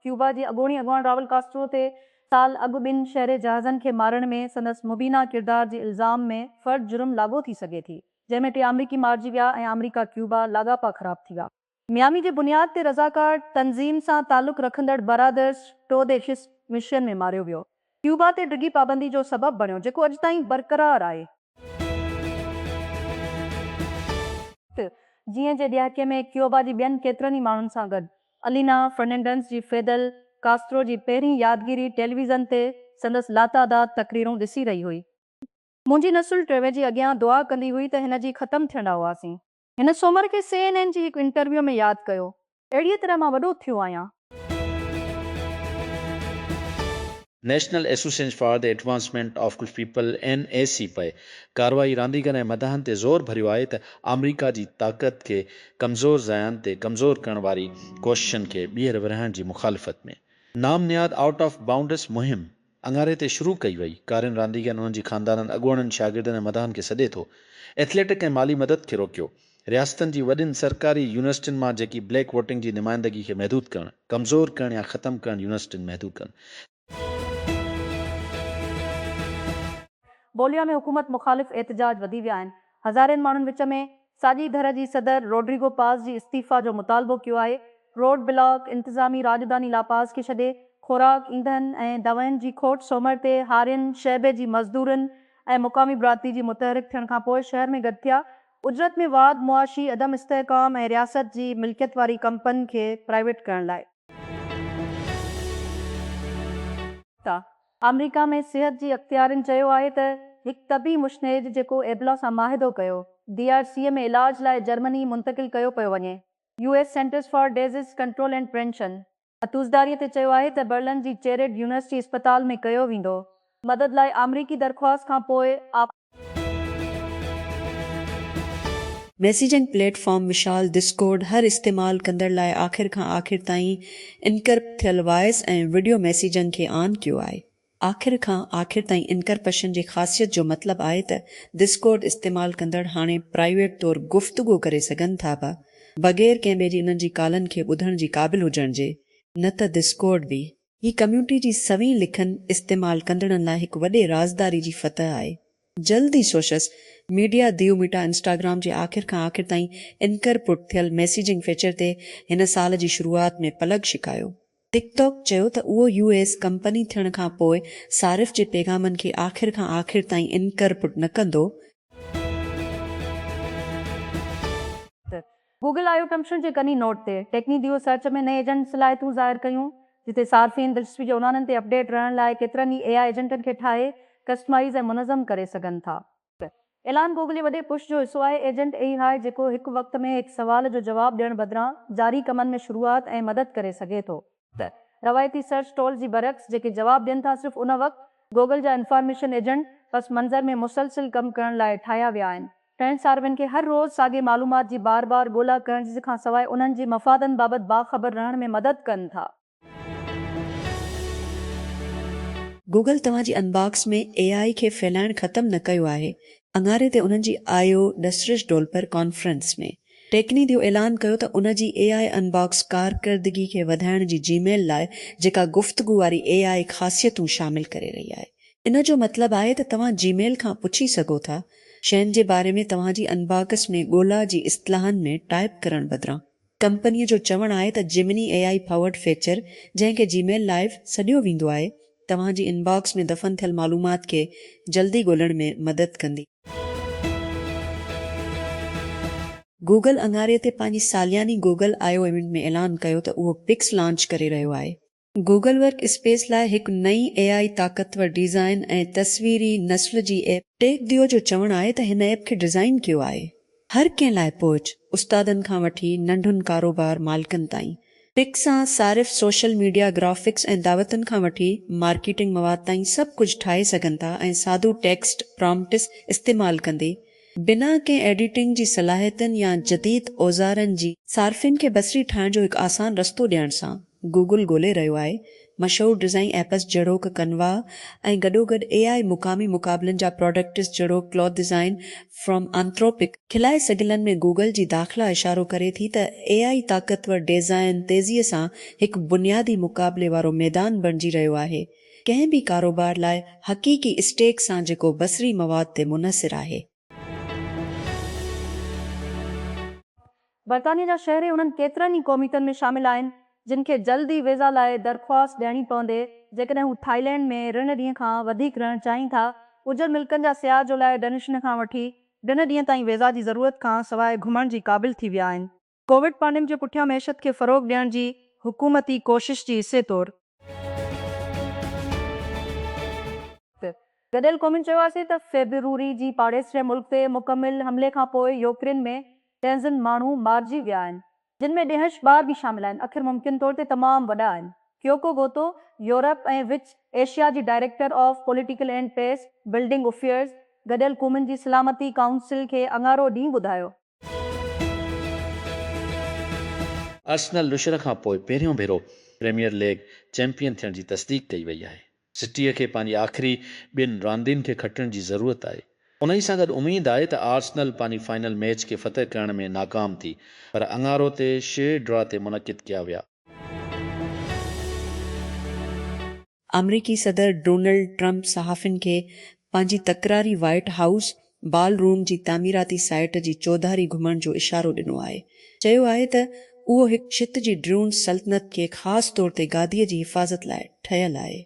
Cuba جي اڳوڻي اڳواڻ راول ڪاسٽرو تي سال اڳ ٻن شهري جهازن کي مارڻ ۾ سندس مبينا ڪردار جي الزام ۾ فرد جرم لاڳو ٿي سگهي ٿي، جنهن ۾ ٽي آمريڪي مارجي ويا ۽ آمريڪا ڪيوبا لاڳاپا خراب ٿي ويا. ميامي جي بنياد تي رضاڪار تنظيم سان تعلق رکندڙ برادرز ٽوڊيشس مشن ۾ ماريو ويو. ڪيوبا تي ڊگهي پابندي جو سبب بڻيو، جيڪو اڄ تائين برقرار آهي. جيئن جي ڏهاڪي ۾ ڪيوبا جي ٻين ڪيترن ئي ماڻهن سان گڏ الينا فرننڊنس جي فيدل ڪاسترو جي پهرين يادگيري ٽيليويزن تي سندس لاتعداد تقريرون ڏسي رهي هئي. منهنجي نسل ٽيوي جي اڳيان دعا ڪندي هئي ته هن جي ختم ٿيڻ ڏانهن هئاسين. هن سومر کي سي اين اين جي هڪ انٽرويو ۾ ياد ڪيو، اهڙيء طرح مان وڏو ٿيو آهيان. National Association for the Advancement of Colored People, N A C P, ڪارروائي رانديگرن ۽ مداحن تي زور ڀريو آهي ته آمريڪا جي طاقت کي ڪمزور ضايعن تي ڪمزور ڪرڻ واري ڪوششن کي ٻيهر ورهائڻ جي مخالفت ۾ نام نهاد آئوٽ آف بائونڊس مهم اڱاري تي شروع ڪئي وئي. ڪارين رانديگرن، انهن جي خاندانن، اڳواڻن، شاگردن ۽ مداحن کي سڏي ٿو. ايٿليٽڪ ۽ مالي مدد کي روڪيو. رياستن جي وڏين سرڪاري يونيورسٽين مان جيڪي بليڪ ووٽنگ جي نمائندگي کي محدود ڪرڻ، ڪمزور ڪرڻ يا ختم ڪرڻ يونيورسٽين محدود ڪن. بوليا ۾ حڪومت مخالف احتجاج وڌي ويا آهن. هزارين ماڻهن وچ ۾ ساڄي ڌر جي صدر روڊريگو پاز جي استعيفيٰ جو مطالبو ڪيو آهي، روڊ بلاڪ، انتظامي راڄڌاني لا پاز کي ڇڏي، خوراڪ، ايندهن ۽ دوائن جي کوٽ سومر تي هارين شعبي جي مزدورن ۽ مقامي برادري جي متحرڪ ٿيڻ کانپوء شهر ۾ گڏ ٿيا، اجرت ۾ واڌ، معاشي عدم استحڪام ۽ رياست جي ملڪيت واري ڪمپن کي پرائيويٽ ڪرڻ لاء. ٿا. آمريڪا ۾ صحت جي اختيارين چيو آهي ته هڪ طبي مشنيد جيڪو ايبلا سان معاهدو ڪيو، ڊي آر سي ۾ علاج لاء جرمني منتقل ڪيو پيو وڃي. U S Centers for Disease Control and Prevention اتوزداري تي چيو آهي ته برلن جي چيريڊ يونيورسٽي اسپتال ۾ ڪيو ويندو. مدد لاء آمريڪي درخواست کان پوء آف. ميسيجنگ پليٽ فارم مشال ڊسڪورڊ هر استعمال ڪندڙ لاء آخر کان آخر تائين انڪرپٽ ٿيل وائس ۽ وڊيو ميسيجنگ کي آن ڪيو آهي. آخر کان آخر تائين انڪرپشن جي خاصيت جو مطلب آهي ته ڊسڪورڊ استعمال ڪندڙ هاڻي پرائيويٽ طور گفتگو ڪري سگهن ٿا پيا بغير ڪنهن ٻئي جي انهن جي ڪالن کي ٻڌڻ جي قابل هجڻ جي نه ته ڊسڪورڊ به هي ڪميونٽي جي سوين لکن استعمال ڪندڙن لاء هڪ وڏي رازداري جي فتح آهي. جلد ئي سوشس ميڊيا ديو ميٽا انسٽاگرام جي آخر کان آخر تائين انڪر پٽ ٿيل ميسيجنگ فيچر تي هن سال جي شروعات ۾ پلگ ڇڪايو. ٽڪ ٽاڪ چيو ته اهو يو ايس ڪمپني ٿيڻ کان پوء صارف جي پيغامن کي آخر کان آخر تائين انڪر پٽ نه ڪندو. گوگل آء او ڪمشنر جي ڪني نوٽ تي ٽيڪني ديو سرچ ۾ نئين ايجنٽ صلاحيتون ظاهر ڪيون، جتي صارفين دلچسپي جي عنوانن تي اپڊيٽ رهڻ لاء ڪيترن ئي اي آء ايجنٽن کي ٺاهي، ڪسٽمائيز ۽ منظم ڪري سگهن ٿا. هيء اعلان گوگل جي وڏي پش جو حصو آهي. ايجنٽ اي آء جيڪو هڪ وقت ۾ هڪ سوال جو جواب ڏيڻ بدران جاري ڪمن ۾ شروعات ۽ مدد ڪري سگهي ٿو. ته روايتي سرچ ٽول جي برعڪس جيڪي جواب ڏين ٿا صرف ان وقت گوگل جا انفارميشن ايجنٽ پس منظر ۾ مسلسل ڪم ڪرڻ لاء ٺاهيا ويا آهن. ٽئين ساروين کي هر روز ساڳي معلومات جي بار بار ڳولا ڪرڻ جي کان سواء انهن جي مفادن بابت باخبر رهڻ ۾ مدد ڪن ٿا. گوگل توهان جي انباڪس ۾ اي آء کي ڦهلائڻ ختم نه ڪيو آهي اڱاري تي انهن جي آيو ڏسرش ڊولپر ڪانفرنس ۾ ٽيڪني ديو اعلان ڪيو ته ان جي اي آء ان باڪس ڪارڪردگي کي وڌائڻ جي جي ميل لاء جيڪا گفتگو واري اي آء خاصيتون شامل ڪري رهي آهي ان جو مطلب آهي ته توهان جي ميل کان پڇي سگهو ٿا شين جي باري ۾ توهان جي ان باڪس ۾ ڳولا جي اصطلاحن ۾ ٽائپ ڪرڻ بدران. ڪمپني جو چوڻ آهي ته Gemini A I powered feature جنهن کي جي ميل لائيو سڏيو ويندو آهي توهان جي ان باڪس ۾ دفن ٿيل معلومات کي جلدي ڳولڻ ۾ مدد ڪندي. گوگل اڱاري تي پنهنجي سالياني گوگل آء او ايونٽ ۾ اعلان ڪيو ته اهو پڪس لانچ ڪري رهيو آهي. گوگل ورڪ اسپيس لاء هڪ نئين اي آء طاقتور ڊيزائن ۽ تصويري نسل جي ايپ. ٽيڪ ديو جو چوڻ آهي ته هن ايپ کي ڊيزائن ڪيو آهي هر ڪنهن لاء پهچ، استادن کان وٺي ننڍن ڪاروبار مالڪن تائين، پڪ سان صارف سوشل ميڊيا، گرافڪس ۽ دعوتن کان وٺي مارڪيٽنگ مواد تائين سڀ ڪجهه ٺاهي سگهن ٿا ۽ سادو ٽيڪسٽ پرامپٽس استعمال ڪندي بنا ڪنهن ايڊيٽنگ جي صلاحيتن يا جديد اوزارن جي صارفين کي بصري ٺاهڻ جو هڪ آسان رستو ڏيڻ سان. گوگل ڳولي رهيو آهي مشهور ڊزائين ايپس جهڙوڪ ڪنوا ۽ گڏوگڏ اي آء مقامي مقابلن جا پراڊڪٽس جهڙوڪ ڪلوٿ ڊزائين فرم آنٿروپڪ، کلائي سگهلن ۾ گوگل جي داخلا اشارو ڪري ٿي ته اي آء طاقتور ڊيزائن تيزيء سان هڪ بنيادي مقابلي وارو ميدان بڻجي رهيو آهي ڪنهن به ڪاروبار لاء حقيقي اسٽيڪ سان جيڪو بصري مواد تي منحصر آهي. برطانيه جا شهري انهن ڪيترن ئي ڪوميٽن ۾ شامل آهن، جن کي جلد ئي ويزا لاء درخواست ڏيڻي پوندي، جيڪڏهن هو ٿائلينڊ ۾ رن ڏينهن کان وڌيڪ رهڻ چاهين ٿا. ڪجهه ملڪن جا سياح جولاء ڊنشن کان وٺي ڊن ڏينهن تائين ويزا جي ضرورت کان سواء گهمڻ جي قابل ٿي ويا آهن. ڪووڊ پانڊيم جي پٺيان معيشت کي فروغ ڏيڻ جي حڪومتي ڪوشش جي حصي طور. گڏيل قومن چيو آسي ته فيبروري جي پاڙيسري ملڪ تي مڪمل حملي کان پوء يوڪرين ۾ ڊينزن ماڻهو مارجي ويا آهن جن ۾ ڏيهنش ٻار به شامل آهن اکر ممڪن طور تي تمام وڏا آهن ڪيوڪو گوتو يورپ ۽ وچ ايشيا جي director of Political and Peacebuilding Affairs گڏيل قومن جي سلامتي ڪائونسل کي اڱارو ڏينهن ٻڌايو ارسنل نشر کان پوء پهريون ڀيرو پريميئر ليگ چيمپيئن ٿيڻ جي تصديق ڪئي وئي آهي. سٽيء کي پنهنجي آخري ٻن راندين کي کٽڻ جي ضرورت آهي، انهي سان گڏ اميد آهي ته آرسنل پنهنجي فائنل ميچ کي فتح ڪرڻ ۾ ناڪام ٿي پر اڱارو تي شيء ڊرا تي منعقد ڪيا ويا. آمريڪي صدر ڊونلڊ ٽرمپ صحافين کي پنهنجي تڪراري وائيٽ هائوس بال روم جي تعميراتي سائيٽ جي چوڌاري گهمڻ جو اشارو ڏنو آهي. چيو آهي ته اهو هڪ ڇت جي ڊرون سلطنت کي خاص طور تي گادي جي حفاظت لاء ٺهيل آهي.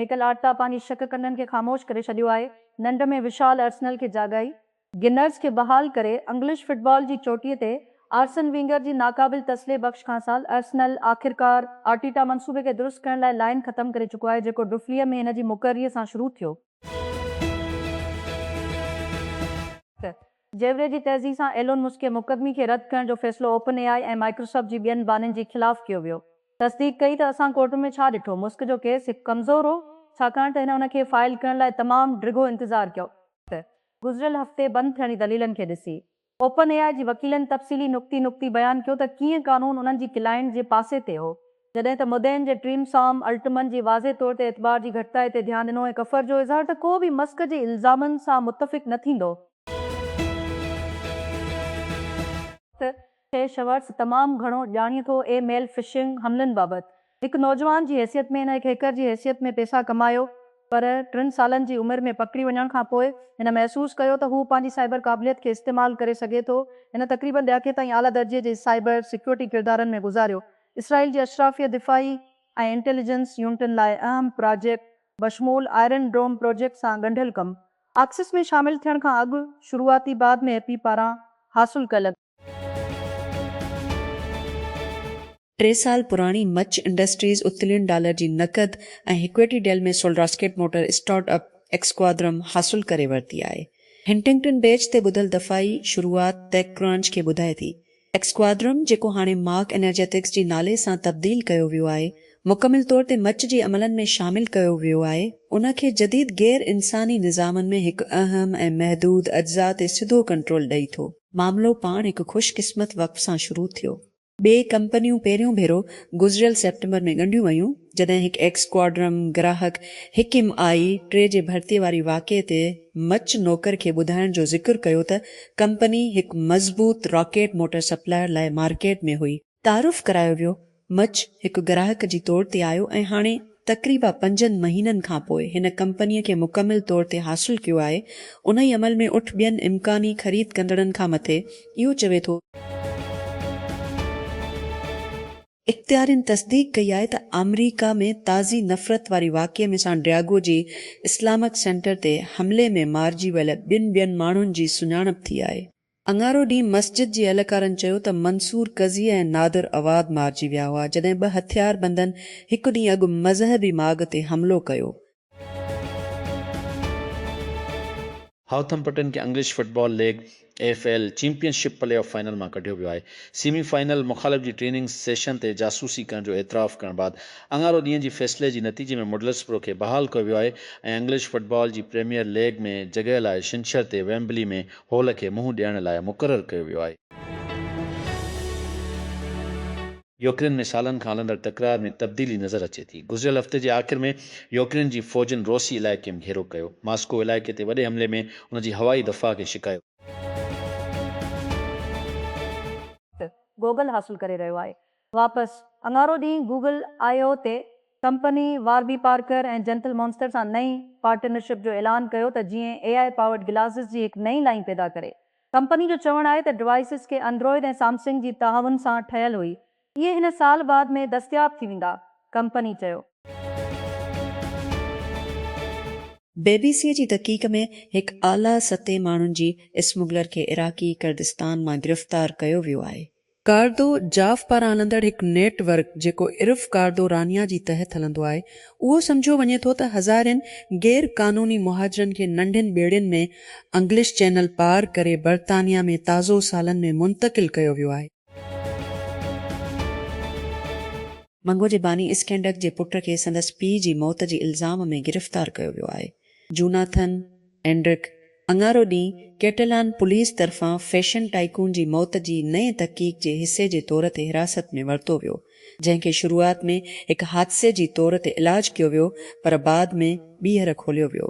ميڪل آرٽيٽا پنهنجي شڪ ڪنڊن کي خاموش ڪري ڇڏيو آهي، ننڊ ۾ وشال ارسنل کي جاڳائي. گنرز کي بحال ڪري انگلش فٽبال جي چوٽيء تي آرسن وينگر جي ناقابل تسلي بخش کانسال ارسنل آخرڪار آرٽيٽا منصوبي کي درست ڪرڻ لاء لائين ختم ڪري چڪو آهي جيڪو ڊفليء ۾ هن جي مقرريء سان شروع ٿيو ته جيوري جي تيزي سان ايلون مسڪ جي مقدمي کي رد ڪرڻ جو فيصلو اوپن اي آء ۽ مائڪروسافٽ جي ٻين بانين جي خلاف ڪيو ويو تصديق ڪئي ته اسان ڪورٽن ۾ ڇا ڏٺو مسڪ جو ڪيس هڪ ڪمزور هو ڇاڪاڻ ته هن ان کي فائل ڪرڻ لاء تمام ڊگهو انتظار ڪيو ته گذريل هفتي بند ٿيڻ جي دليلن کي ڏسي اوپن اي آء جي وڪيلن تفصيلي نقطي نقطي بيان ڪيو ته ڪيئن قانون انهن جي ڪلائنٽ جي پاسي تي هو جڏهن ته مدعين جي ٽيم سام الٽمن جي واضح طور تي اعتبار جي گهٽتائي تي ڌيان ڏنو ۽ ڪفر جو اظهار ته ڪو به مسڪ جي الزامن سان متفق نه ٿيندو ته شيء شورٽس تمام گهڻو ڄاڻي ٿو اي ميل فشنگ حملن بابت هڪ نوجوان جي حيثيت ۾ هن هڪ هيڪر جي حيثيت ۾ پئسا ڪمايو پر ٽن سالن جي عمر ۾ پڪڙي وڃڻ کان پوء هن محسوس ڪيو ته هو پنهنجي سائبر قابليت کي استعمال ڪري سگهي ٿو هن تقريبن ڏهاڪي تائين اعليٰ درجي جي سائبر سيڪيورٽي ڪردارن ۾ گذاريو اسرائيل جي اشرافيه دفاعي ۽ انٽيليجنس يونٽن لاء اهم پراجيڪٽ بشمول آئرن ڊوم پراجيڪٽ سان ڳنڍيل ڪم آڪسس ۾ شامل ٿيڻ کان اڳ شروعاتي بعد ۾ ايپي پاران حاصل ڪيل ٽي سال پراڻي مچ انڊسٽريز اتلين ڊالر جي نقد ۽ equity deal ۾ solid rocket motor startup ايڪسڪوادرم حاصل ڪري ورتي آهي. هنٽنگٽن بيچ تي ٻڌل دفاعي شروعات ٽيڪ ڪرانچ کي ٻڌائي ٿي. ايڪسڪوادرم جيڪو هاڻي مارڪ انرجيٽڪس جي نالي سان تبديل ڪيو ويو آهي، مڪمل طور تي مچ جي عملن ۾ شامل ڪيو ويو آهي، ان کي جديد غير انساني نظامن ۾ هڪ اهم ۽ محدود اجزاء تي سڌو ڪنٽرول ڏئي ٿو. معاملو پاڻ هڪ خوش قسمت وقف سان شروع ٿيو. ٻئي ڪمپنيون پهريون ڀيرو گذريل سيپٽمبر ۾ ڳنڍيون ويون، جڏهن هڪ ايڪس ڪواڊرم گراهڪ حڪيم آء ٽي جي ڀرتيء واري واقعي تي مچ نوڪر کي ٻڌائڻ جو ذڪر ڪيو ته ڪمپني هڪ مضبوط راڪيٽ موٽر سپلائر لاء مارڪيٽ ۾ هئي، تعارف ڪرايو ويو. مچ هڪ گراهڪ جي طور تي آيو ۽ هاڻي تقريبا پنجن مهينن کان پوء هن ڪمپنيء کي مڪمل طور تي حاصل ڪيو آهي. انهي عمل ۾ اٺ ٻين امڪاني خريد ڪندڙن کان مٿي اهو چوي ٿو. اختيارين تصديق ڪئي آهي ته آمريڪا ۾ تازي نفرت واري واقعي ۾ سان ڊياگو جي اسلامڪ سينٽر تي حملي ۾ مارجي ويل ٻن ٻين ماڻهن جي سڃاڻپ ٿي آهي. اڱارو ڏينهن مسجد جي اهلڪارن چيو ته منصور قضيه ۽ نادر عواد مارجي ويا هئا جڏهن ٻه هٿياربندن هڪ ڏينهن اڳ مذهبي ماڳ تي حملو ڪيو. هاؤٿمپٽن کي English Football League, E F L, Championship playoff final مان ڪڍيو ويو آهي. سيمي فائنل مخالف جي ٽريننگ سيشن تي جاسوسي ڪرڻ جو اعتراف ڪرڻ بعد اڱارو ڏينهن جي فيصلي جي نتيجي ۾ مڊلسبرو کي بحال ڪيو ويو آهي ۽ انگلش فٽبال جي پريميئر ليگ ۾ جڳهه لاء ڇنڇر تي ويمبلي ۾ هول کي منهن ڏيڻ لاء مقرر ڪيو ويو آهي. يوڪرين ۾ سالن کان هلندڙ تڪرار ۾ تبديلي نظر اچي ٿي. گذريل هفتي جي آخر ۾ يوڪرين جي فوجن روسي علائقي ۾ گهيرو ڪيو. ماسڪو علائقي تي وڏي حملي ۾ ان جي هوائي دفاع کي شڪايو. گوگل حاصل ڪري رهيو آهي. واپس اڱارو ڏينهن گوگل آء او تي company Warby Parker ۽ Gentle Monster سان نئين پارٽنرشپ جو اعلان ڪيو ته جيئن اي آء پاورڊ گلاسز جي هڪ نئين لائين پيدا ڪري. ڪمپني جو چوڻ آهي ته ڊوائسز ڪي اندروئيڊ ۽ سامسنگ جي تعاون سان ٺهيل هئي. اهي هن سال بعد ۾ دستياب ٿي ويندا، ڪمپني چيو. بي بي سيء جي تحقيق ۾ هڪ اعليٰ سطحي ماڻهن جي اسمگلر کي عراقي ڪردستان مان گرفتار ڪيو ويو آهي، ڪاردو جاف پاران هلندڙ هڪ نيٽ ورڪ جيڪو عرف ڪاردو رانيا جي تحت هلندو آهي اهو سمجهيو وڃي ٿو ته هزارين غير قانوني مهاجرن کي ننڍين ٻيڙين ۾ انگلش چينل پار ڪري برطانيا ۾ تازو سالن ۾ منتقل ڪيو ويو آهي. منگهو جي باني اسڪينڊڪ جي پٽ کي سندس پيء جي موت جي الزام ۾ گرفتار ڪيو ويو آهي. جوناٿن، اينڊرڪ، اڱارو ڏينهن ڪيٽلان پوليس طرفان فيشن ٽائيڪون جي موت جي نئين تحقيق جي حصي جي طور تي حراست ۾ ورتو ويو، جنهن کي شروعات ۾ هڪ حادثي جي طور تي علاج ڪيو ويو پر بعد ۾ ٻيهر کوليو ويو.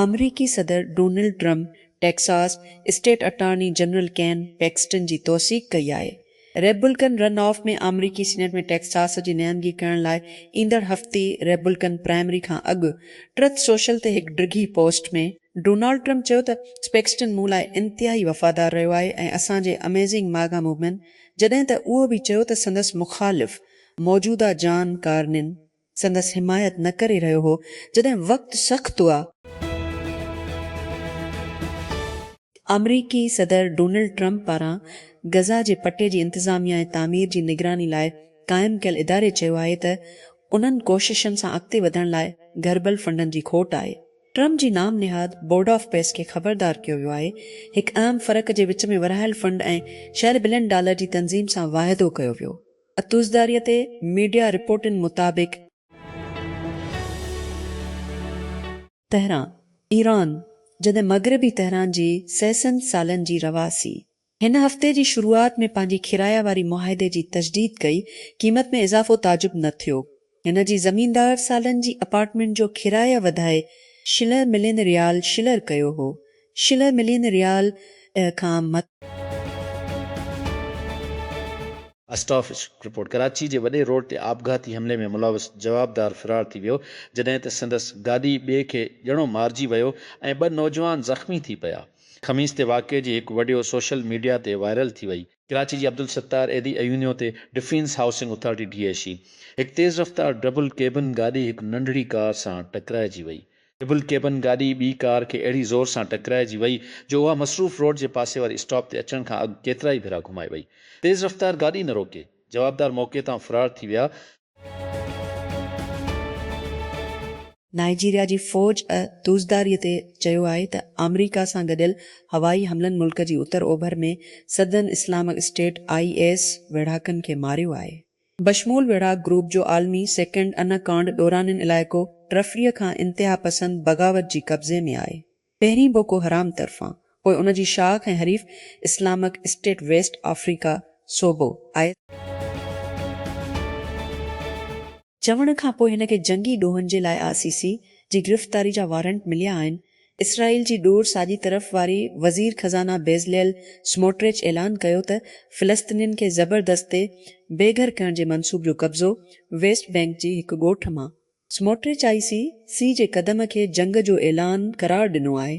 آمريڪي صدر Donald Trump Texas state attorney general Ken Paxton جي توثيق ڪئي آهي. ريپبلڪن رن آف ۾ آمريڪي سينيٽ ۾ ٽيڪساس جي نمائندگي ڪرڻ لاء ايندڙ هفتي ريپبلڪن پرائمري کان اڳ ٽرٿ سوشل تي هڪ ڊگهي پوسٽ ۾ ڊونالڊ ٽرمپ چيو ته پيڪسٽن مون لاء انتهائي وفادار رهيو آهي ۽ اسان جي اميزنگ ماگا موومينٽ جڏهن ته اهو به چيو ته سندس مخالف موجوده جان ڪارنين سندس حمايت نه ڪري رهيو هو جڏهن وقت سخت هئا. آمريڪي صدر ڊونلڊ ٽرمپ پاران غزه جي پٽي جي انتظاميه ۽ تعمير جي نگراني لاء قائم ڪيل اداري چيو آهي ته انهن ڪوششن سان اڳتي وڌڻ لاء گهربل فنڊن جي کوٽ آهي. ٽرمپ جي نام نهاد بورڊ آف پيس کي خبردار ڪيو ويو آهي. هڪ اهم فرق جي وچ ۾ ورهايل فنڊ ۽ شهر بلين ڊالر جي تنظيم سان واعدو ڪيو ويو. اتوزداريء تي ميڊيا رپورٽن مطابق، تهران، ايران، جڏهن مغربي تهران جي سيسن سالن جي رهواسي هن هفتي جي شروعات ۾ پنهنجي ڪرائي واري معاهدي جي تجديد ڪئي، قيمت ۾ اضافو تعجب نه ٿيو، هن جي زميندار سالن جي اپارٽمينٽ جو ڪرايه وڌائي شلهه ملين ريال شلر ڪيو هو. شلهه ملين ريال کان مٿي. اسٽافچ، رپورٽ، ڪراچي جي وڏي روڊ تي آپگهاتي حملي ۾ ملوث جوابدار فرار ٿي ويو، جڏهن ته سندس گاڏي ٻئي کي ڄڻو مارجي ويو ۽ ٻه نوجوان زخمي ٿي پيا. خميس تي واقعي جي هڪ وڊيو سوشل ميڊيا تي وائرل ٿي وئي. ڪراچي جي عبدالستار ايڌي ايونيو تي defence housing authority, D H A, هڪ تيز رفتار ڊبل ڪيبن گاڏي هڪ ننڍڙي ڪار سان ٽڪرائجي وئي. ڊبل ڪيبن گاڏي ٻي ڪار کي اهڙي زور سان ٽڪرائجي وئي جو اها مصروف روڊ جي پاسي واري اسٽاپ تي اچڻ کان اڳ ڪيترائي ڀيرا گهمائي وئي. تيز رفتار گاڏي نه روڪي، جوابدار موقعي تان فرار ٿي ويا. نائيجيريا جي فوج اھا دزداري تي چيو آھي ته آمريڪا سان گڏيل ھوائي حملن ملڪ جي اتر اوڀر ۾ سڌن اسلامڪ اسٽيٽ، آء ايس، ويڙھاڪن کي ماريو آھي. بشمول ويڙھاڪ گروپ جو عالمي سيڪنڊ انا ڪانڊ ڏورانين علائقو ٽرفريء کان انتهاپسند بغاوت جي قبضي ۾ آهي. پهرين بوڪو حرام طرفان پوء ان جي شاخ ۽ حريف اسلامڪ اسٽيٽ ويسٽ آفريڪا صوبو آء ايس آء. چوڻ کان پوء هن کي جنگي ڏوهن جي لاء آء سي سي جي گرفتاري جا وارنٽ مليا آهن. اسرائيل جي ڏور ساڄي طرف واري وزير خزانه بيزليل سموٽريچ اعلان ڪيو ته فلسطينين کي زبردستي بي گهر ڪرڻ جي منصوب جو قبضو ويسٽ بينڪ جي هڪ ڳوٺ مان سموٽريچ آء سي سي جي قدم کي جنگ جو اعلان قرار ڏنو آهي.